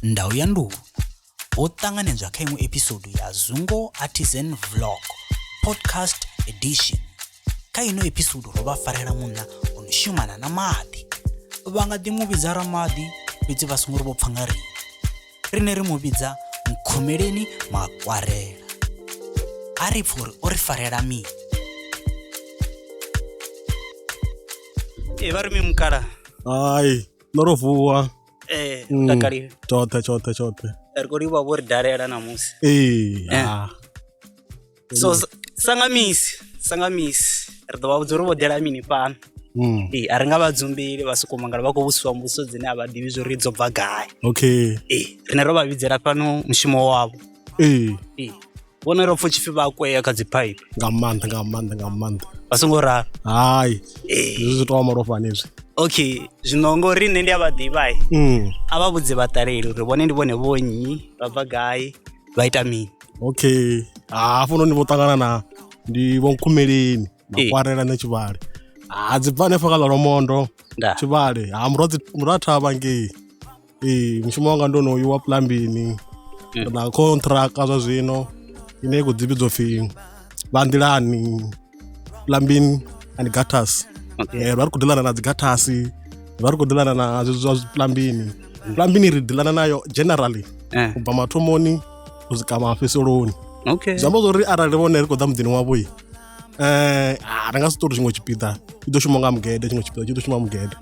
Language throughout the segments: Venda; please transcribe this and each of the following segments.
ndau ya nduhu ho ṱanganedzwa kha iṅwe episodu ya zungo artisan vlog podcast edition kha ino episodu ro vha farela munna o no shumana na maḓi vha nga ḓi mu vhidza ramaḓi fhedzi vha songo ri vho pfa nga riṋe riṋe ri mu vhidza nkhumeleni makwarela a ri pfha uri o ri farela mini e vha ri mi mukala hai ndo ro vuwa eh Mm. takalile tshoṱhe tshoṱhe tshoṱhe ri khou livha vho ri dalela ṋamusi ee Eh. ah. so s- sanga misi sanga misi ri ḓo vha vhudza uri vho dela mini fhano Mm. ee a ri nga vha dzumbili vha sokou mangala vha khou vhusiwa mbuso dzine a vha ḓivhi zwo ri dzo bva gai okay ee rine ro vha vhidzela fhano mushumo wavho ee ee vhone ro pfa tshipfi vha kwea kha dzi pipe nga maanḓa nga maanḓa nga maanḓa vha songo ralo hai zwi zwi tovha malofhani izwi okay zwino ngori nṋe ndi a vha ḓivha mm. a vha vhudze vhaṱaleli uri vhone ndi vhone vhonnyi vha bva gai vha ita mini okay hafho noni vho ṱangana na ndi vhonkhumeleni makwarela na tshivhale ha dzi bva hanefho kha ḽa lomondo tshivhale ha murwa thavha ngei ee mushumo wanga ndo no wa plumbini eh. na contractor zwa zwino ine i khou dzivhidzwa pfhi vha nḓilani plumbing and gutters okay. Eh, vha ri khou ḓilana na dzi gutters vha ri khou ḓilana na zwezwi zwa plumbini mm. plumbini ri ḓilana nayo generally eh. u bva mathomoni u swika mafheseloni okay. zwi amba zwa uri arali vhone ri khou ḓa muḓini wavho um ri nga si ṱori tshiṅwe tshipiḓa i ḓo shuma nga mugede tshiṅwe tshipiḓa tshi ḓo shuma mugede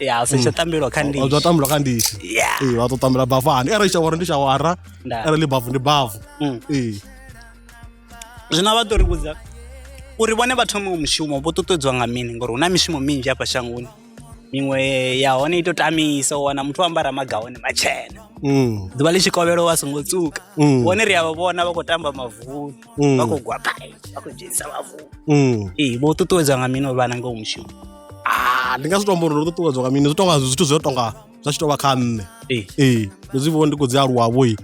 ya zwi tsha tambelwa kha ndishi zwa tambelwa kha ndishi ee vha tou tambela bavani arali shawara ndi shawara arali bavu ndi bavu mm. ee zwino vha ḓo ri vhudza uri vhone vha thome mushumo vho ṱuṱuwedzwa nga mini ngori hu na mishumo minzhi hafha shangoni miṅwe ya hone i to tamisa u wana muthu o ambara magahone matshena mm. ḓuvha ḽi tshikovhelo wa songo tsuka mm. vhone ri a vha vhona vha khou tamba mavuni mm. vha khou gwa gai vha khou dzhenisa vhavu mm. ee vho ṱuṱuwedzwa nga mini uri vha nange u mushumo ah, ndi nga zwi tombo uri ndo ṱuṱuwedzwa nga mini zwi tonga zwithu zwi tonga zwa tshi tovha kha nṋe ee ee ndo zwi vhona ndi khou dzi aluwavho i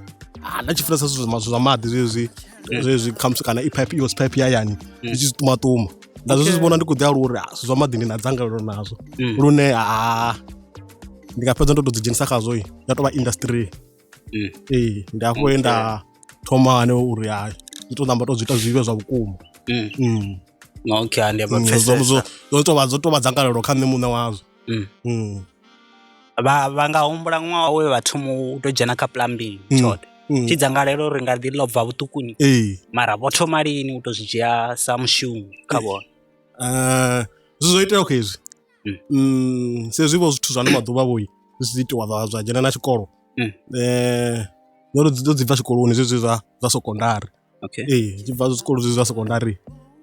ah, nda tshi funesa zwithu zwa maḓi zwezwi mm. zwezwi khamusi kana i pipe ios pipe ya yani ndi tshi zwi ṱumaṱuma nda zwi zwi vhona ndi khou ḓi aluwa uri zwithu zwa maḓi ndi na dzangalelo nazwo lune a ndi nga fhedza ndo to dzi dzhenisa khazwo ya tovha industry mm. ee ndi hafho he nda thoma hane uri ha ndi to namba to zwi ita zwi vhe zwa vhukuma mm. mm. okay ndi ba mm, pfesesa zwo to vha zwo to vha dzangalelo kha nṋe muṋe wazwo mm. mm. vha vha nga humbula ṅwaha we vha thoma u to dzhena kha plumbing mm. tshoṱhe mm. tshi dzangalelo ri nga ḓi lobva vhuṱukuni ee mara vho thoma lini u to zwi dzhia sa mushumo kha vhona eh zwi zwo itea khezwi Mm, sa ezwi vho zwithu zwa ano maḓuvha vho zwi tshi itiwa zwa zwa dzhena na tshikolo Mm. eh ndo ri dzi ḓo dzi bva tshikoloni zwezwi zwa zwa sekondari okay ee zwi tshi bva zwikolo zwezwi zwa sekondari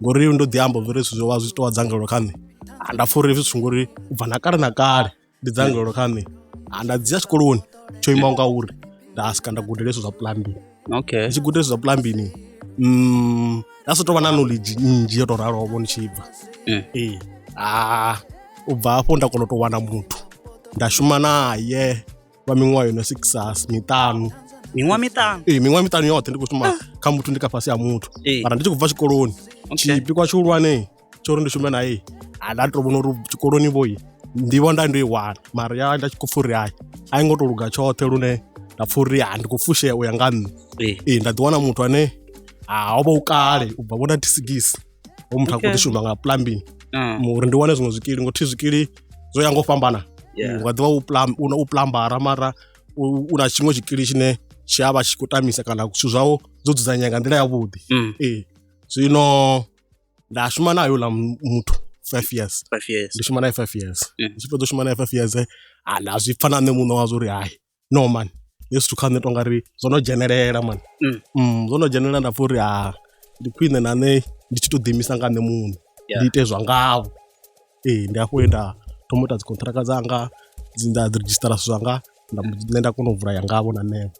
ngori ndo ḓi amba uri zwithu zwo vha zwi tshi tou vha dzangalelo kha nṋe Ah, nda pfha uri hezwi zwithu ngori u bva na kale na kale ndi dzangalelo kha nṋe Ah, nda dzhia tshikoloni tsho imaho nga uri nda swika nda gudela hezwo zwa plumbing okay ndi tshi guda zwa plumbing mm nda so tovha na knowledge nnzhi yo to raloho vho ndi tshi bva eh. ee eh, a u bva hafho nda kona u tou wana muthu nda shuma naye lwa miṅwaha yo no six miṱanu miṅwaha miṱanu ee miṅwaha miṱanu yoṱhe ndi khou shuma ah. kha muthu ndi kha fhasi ha muthu mara ndi tshi khou bva tshikoloni tshipikwa tshihulwane tsho uri ndi shume naye a nda to vhona uri tshikoloni vhoi ndivho nda ndo i wana mara ya nda tshi khou pfha uri hai a i ngo to luga tshoṱhe lune nda pfha uri ha ndi khou fushea u ya nga nṋe Ee. ee nda ḓiwana muthu ane ha o vha u kale u bva vhona tisigisi ho muthu a khou Okay. ḓi shuma nga plumbing Ah, mu- uri ndi wane zwiṅwe zwikili ngo thi zwikili zwo ya ngo u fhambana yeah. u nga ḓivha u plam- u na- u plambara mara u u na tshiṅwe tshikili tshine tshi a vha tshi khou tamisa kana zwithu zwawo zwo dzudzanyea nga nḓila yavhuḓi Mm. ee zwino nda shuma nayo ḽa muthu five years five years ndi shuma naye five years mm. tshi fhedza u shuma naye five years eh, ha nda zwi pfa na nṋe muṋe wazwo uri hayi no man hezwi zwithu kha nṋe tonga ri zwo no dzhenelela man mm. Mm, zwo no dzhenelela nda pfa uri ha ndi khwine na nṋe ndi tshi to ḓiimisa nga nṋe muṋe ndi ite zwa ngavho ee ndi hafho he nda thoma u ita dzikontraka dzanga nda register zwithu zwanga nṋe nda kona u vula ya ngavho na nṋevho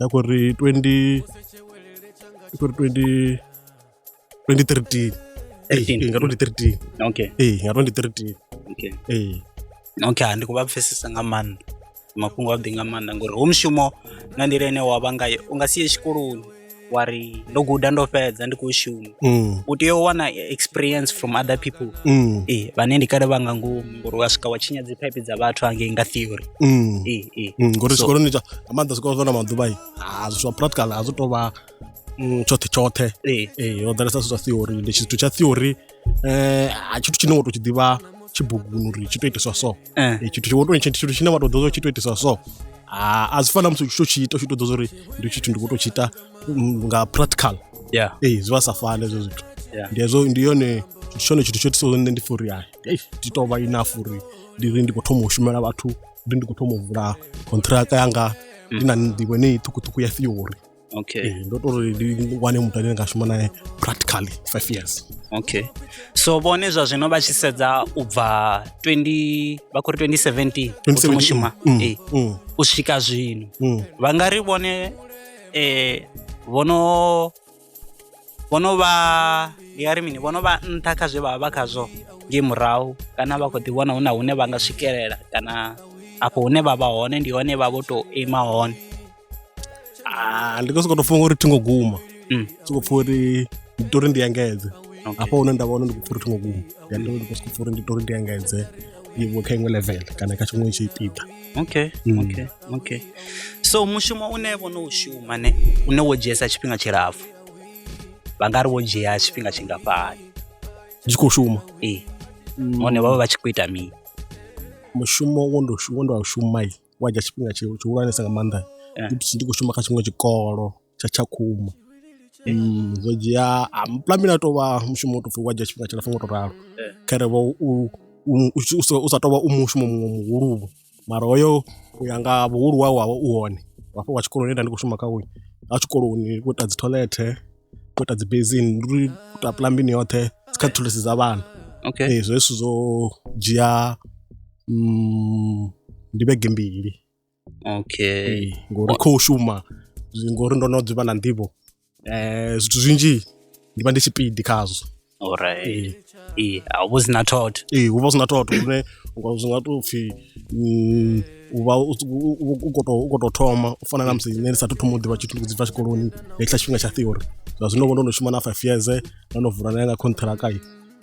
ya ku ri 20 ku ri 20 2013 eyi nga 2013 okay eyi nga 2013 okay eyi okay handi ku va pfesesa nga maanḓa mafhungo a ḓi nga maanḓa ngori hu mushumo nga nḓila ine wa vha ngayo u nga si ye tshikoloni wa ri ndo guda ndo fhedza ndi khou shuma mm. u tea u wana experience from other people mm. e, vhane ndi kale vha nga ngomu ngori wa swika wa tshinya dzi pipe dza vhathu angei nga theory mm. e, e. mm. ngori zwikoloni so, nga maanḓa zwikolo zwa na maḓuvha i ah, zwithu zwa practical a zwi tou vha mm, tshoṱhe tshoṱhe e. e, ho ḓalesa zwithu zwa theory ndi tshithu tsha theory um a tshithu tshine wa tou tshi ḓivha tshibuguni uri tshi tou itiswa so Eh. Eh, tshithu tshiwoto tshi- tshithu tshine wa to ḓoza tshi to itiswa so Ah, a zwi fana na musi u tshi to tshi ita u tshi to ḓoza uri ndi tshithu ndi kho to tshi ita mm, nga practical yeah ee zwi vha sa fani hezwo zwithu Yeah. ndi hezwo ndi yone ndi tshone tshithu tsho itisaho nṋe ndi pfha uri ai ei, ndi to vha enough uri ndi ri ndi khou thoma u shumela vhathu ndi ndi khou thoma u vula contract yanga ndi na nḓivho ine ṱhukhuṱhukhu ya theory okay eh, ndo tori ndi wane muthu ane nga shuma naye practically five years okay so vhone zwa zwino vha tshi sedza u bva 20 vha khou ri 2017 mushuma mm, eh, mm. u swika zwino mm. vha nga ri vhone eh vhono vhono vha ndi nga ri mini vhono vha nṱha kha zwe vha vha vha khazwo nge murahu kana vha khou ḓi vhona hu na hune vha nga swikelela kana afho hune vha vha hone ndi hone vha vho tou ima hone Ah, ndi khou sokou tou funga uri thi ngo guma Mm. sokou pfha uri ndi tori ndi engedze Okay. hafha hune nda vha hone ndi khou pfha uri thi ngo guma ya ndi ndi khou sokou pfha uri ndi tori ndi engedze ndi vho kha iṅwe level kana kha tshiṅwe tshipiḓa okay Mm. okay okay so mushumo une vho no u shuma ne une wo dzhiesa tshifhinga tshilapfu vha nga ri wo dzhia tshifhinga tshingafhani ndi tshi khou shuma ee hone vha vha vha tshi khou ita mini mushumo wo ndo shu- wo ndo a shuma i wa dzhia tshifhinga tshi- tshihulwanesa nga maanḓa Eh. ndi ndi khou shuma kha tshiṅwe tshikolo tsha tshakhuma Mm, zwo dzhia ah, mplambi na tovha mushumo u topfi wa dzhia tshifhinga tshilapfu ngo to ralo Eh. khere vho u u- u- u sa- u sa tovha u mushumo muṅwe muhuluvho mara hoyo u ya nga vhuhulu wawe wavha u hone wafha wa tshikoloni nda ndi khou shuma kha uyu a tshikoloni ndi khou ita dzi toilethe u ita dzi basin ndi uri u tou apuḽaya mbilu yoṱhe dzi kha thulusi dza vhana okay ee zwe zwithu zwo dzhia mm, ndi vhege mbili okay ee ngori khou shuma zwi- ngori ndo no dzivha na nḓivho um zwithu zwinzhi ndi vha ndi tshipidi khazwo Alright. Eh, a hu sina thotho. Ee, hu vha hu sina thotho lune zwi nga tou pfhi mm, u vha u khou tou u khou tou thoma u fana na musi nṋe ndi sathu thoma u ḓivha tshithu ndi khou dzi bva tshikoloni nga hetshiḽa tshifhinga tsha theory zwa zwino vho ndo no shuma na five years ndo no vula na yanga khonṱhiraka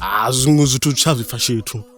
ha zwiṅwe zwithu tsha zwi pfha tshithu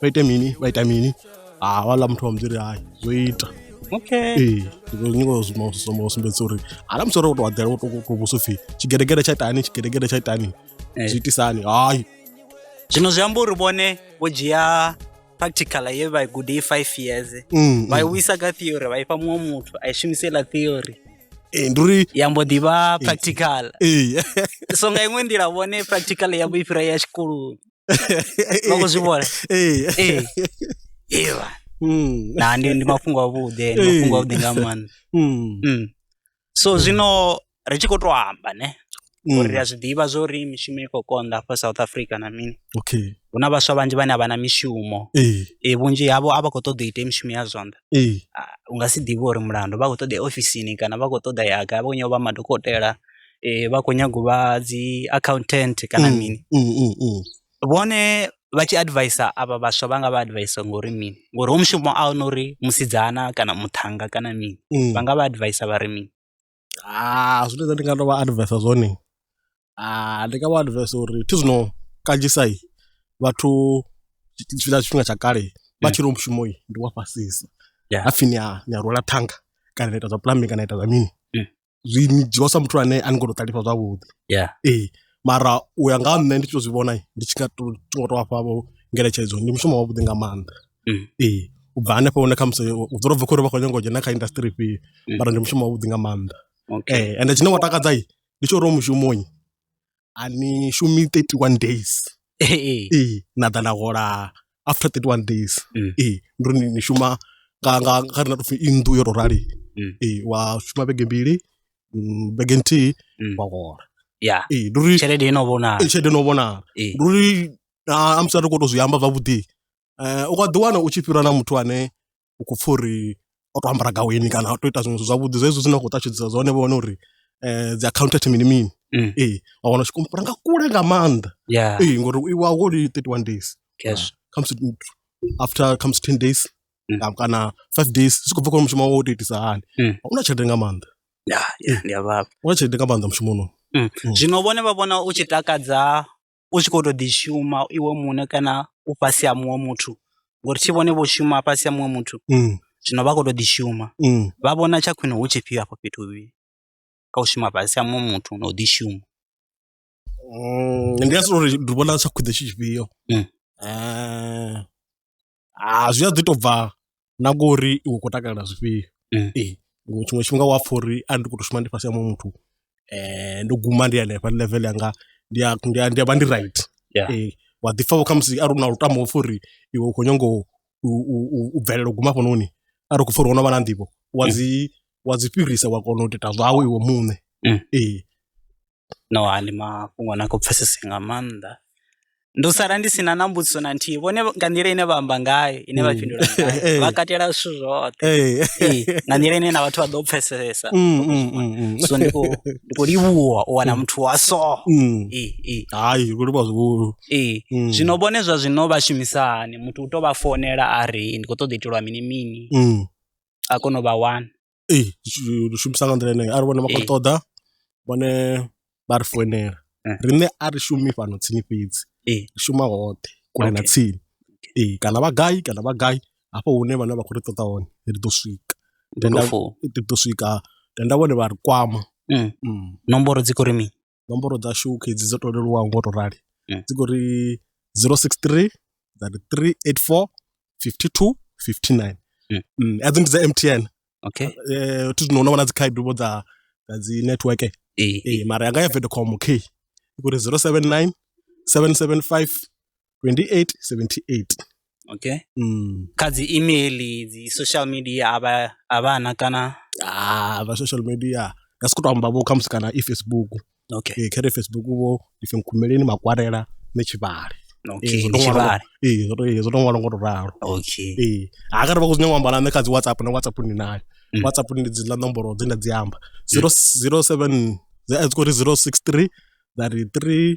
vha ite mini vha ita mini ha vhaḽa muthu wa mudziri hai zwo ita okay ee zwo nyingo zwo zwo sumbedza uri hala musi ro to wadela wo to to vhuso pfi tshigedegede tsha itani tshigedegede tsha itani Eh. zwi itisani hai zwino zwi amba uri vhone vho dzhia practical ye vha i gude i five years Mm, vha i mm. wisa kha theory vha ifha muṅwe muthu a i shumise iḽa theory ee ndi uri ya mbo ḓi vha practical ee so nga iṅwe nḓila vhone practical yavho i fhira ya tshikoloni vha khou zwi vhona Ee. ee ee vha. Mm, na ndi ndi mafhungo avhuḓi ndi mafhungo avhuḓi nga maanḓa mm, Mm. so zwino ri tshi khou tou amba ne mm. uri ri a zwi ḓivha zwo uri mishumo i khou konḓa hafha south africa na mini okay hu na vhaswa vhanzhi vhane a vha na mishumo ee e vhunzhi havho a vha khou ṱoḓa u ita mishumo ya zwanḓa ee Ah, u nga si ḓivhe uri mulandu vha khou ṱoḓa ya ofisini kana vha khou ṱoḓa ya gai vha khou nyova vha madokotela eh, vha khou nyaga u vha dzi accountant kana mm, mini mm, mm, mm. vhone vha tshi advisa avha vhaswa vha nga vha advisa ngori mini ngori ho mushumo a hone uri musidzana kana muthanga kana mini mm. vha nga vha advisa vha ri mini ah, zwine zwa ndi nga to vha advisa zwone ah, ndi nga vha advisa uri thi zwino kanzhisai vhathu tshifhinga tshifhinga tsha kale vha tshi ri mushumo ndi wa fhasisa hapfi ni a rwela thanga kana na ita zwa plumbing kana ita zwa mini zwi ni dzhiwa sa muthu ane a ni ngo to ṱalifha zwavhuḓi yeah ee mara u ya nga ha nṋe ndi tshi to zwi vhona ndi tshi nga to tshi ngo to vhafha vho ngeletshedzo ndi mushumo wavhuḓi nga maanḓa Mm. ee u bva hanefho hune khamusi u dzula bva khori vha khou nyanga u dzhena kha industry ifhio Mm. mara ndi mushumo wavhuḓi nga maanḓa okay ee ende tshine wa takadza i ndi tsho uri u mushumoni a ni shumi 31 days ee ee na ḓa na hola after 31 days Mm. ee ndo ni ni shuma nga nga nga ri na topfi i nnḓu yo to rali Mm. ee wa shuma vhege mbili mm, vhege nthihi Mm. wa hola ya ee ndi uri tshelede ino vhonala ee, tshelede no vhonala Ee. ndi uri a- amusi a ri khou to zwi amba zwavhuḓi um u nga ḓiwana u tshi fhira na muthu ane u khou pfha uri o tou ambara gaweni kana o tou ita zwiṅwe zwithu zwavhuḓi zwezwi zwine a khou ṱalutshedzisa zwone vho wana uri um dzi accountant mini mini mm. ee wa wana tshi kumpula nga kule nga maanḓa ee ngori u iwa woli thirty one days cash khamusi after khamusi ten days mm. kana five days zwi khou bva kha mushumo wo tou itisa hani mm. u na tshelede nga maanḓa ya ya ndi a vhavha u na tshelede nga maanḓa mushumoni Mm. Mm. zwino vhone vha vhona u tshi takadza u tshi khou tou ḓi shuma iwe muṋe kana u fhasi ha muṅwe muthu ngori thi vhone vho shuma fhasi ha muṅwe muthu mm. zwino vha khou tou ḓi shuma mm. vha vhona tsha khwine hu tshifhio afho fhethu vhi kha u shuma fhasi ha muṅwe muthu na u ḓi shuma mm, ndi nga sori ndi vhona tsha khwine tshi tshifhio mm. eh, ah zwi a ḓi to bva na ngori iwe u khou takalela zwifhio Eh. ee ngo- tshiṅwe tshifhinga wa pfha uri a ndi khou to shuma ndi fhasi ha muṅwe muthu um ndo guma ndi hanefha ndi level yanga ndi a- ndi a- ndi a vha ndi right Yeah. ee wa ḓi pfha vho khamusi a ri na lutambo upfa uri iwe u khou nyanga u- u- u u- u bvelela u guma hafhanoni a ri khou pfha uri wono vha na nḓivho wa Mm. dzi wa dzi fhirisa wa kona u ita zwawe iwe muṋe Mm. ee no ndi mafhungo na kho pfesesa nga maanḓa ndi u sala ndi si na na mbudziso na nthihi vhone nga nḓila ine vha amba ngayo ine vha mm. fhindula ngayo vha katela zwithu zwoṱhe nga nḓila ine na vhathu vha ḓo pfesesa mm, mm, so ndi khou livhuwa u wana muthu wa so hayi khou livhuwa zwihulu zwino vhone zwa zwino vha shumisa hani muthu u tou vha founela a ri ndi khou ṱoḓa itelwa mini mini a kona u vha wana ee lu shumisa nga nḓila yeneyo arali vhone vha khou ṱoḓa vhone vha ri foinela riṋe a ri shumi fhano tsini fhedzi ri shuma hoṱhe kule na tsini ee kana vha gai kana vha gai hafho hune vhane vha khou ri ṱoḓa hone ri ḓo swika ri ḓo swika tenda vhone vha ri kwama nomboro dzi khou ri mini. nomboro dzashu u kha edzi dzo to leluwaho ngo to rali mm. dzi khou ri 063 dza ri 384 52 59 mm. mm. edzi ndi dza mtn okay eh thi zwino vhona dzi khaedu vho dza dza dzi network eh eh mara yanga ya Vodacom okay ikuri 079 775 2878 okay mm. kha dzi email dzi social media a vha a vha na kana ah vha social media nga sikuto amba vho khamusi kana i facebook okay eh, khere facebook vho ife nkhumeleni makwarela ne tshivhale okay ndi tshivhale eh zwo to zwo to ṅwalo ngo to ralo okay eh ha kare vha khou zwi nyanga amba na nṋe kha dzi whatsapp na whatsapp ni nayo mm. whatsapp ndi dzi la nomboro dzi nda dzi amba 007 mm. dzi khou ri 063 33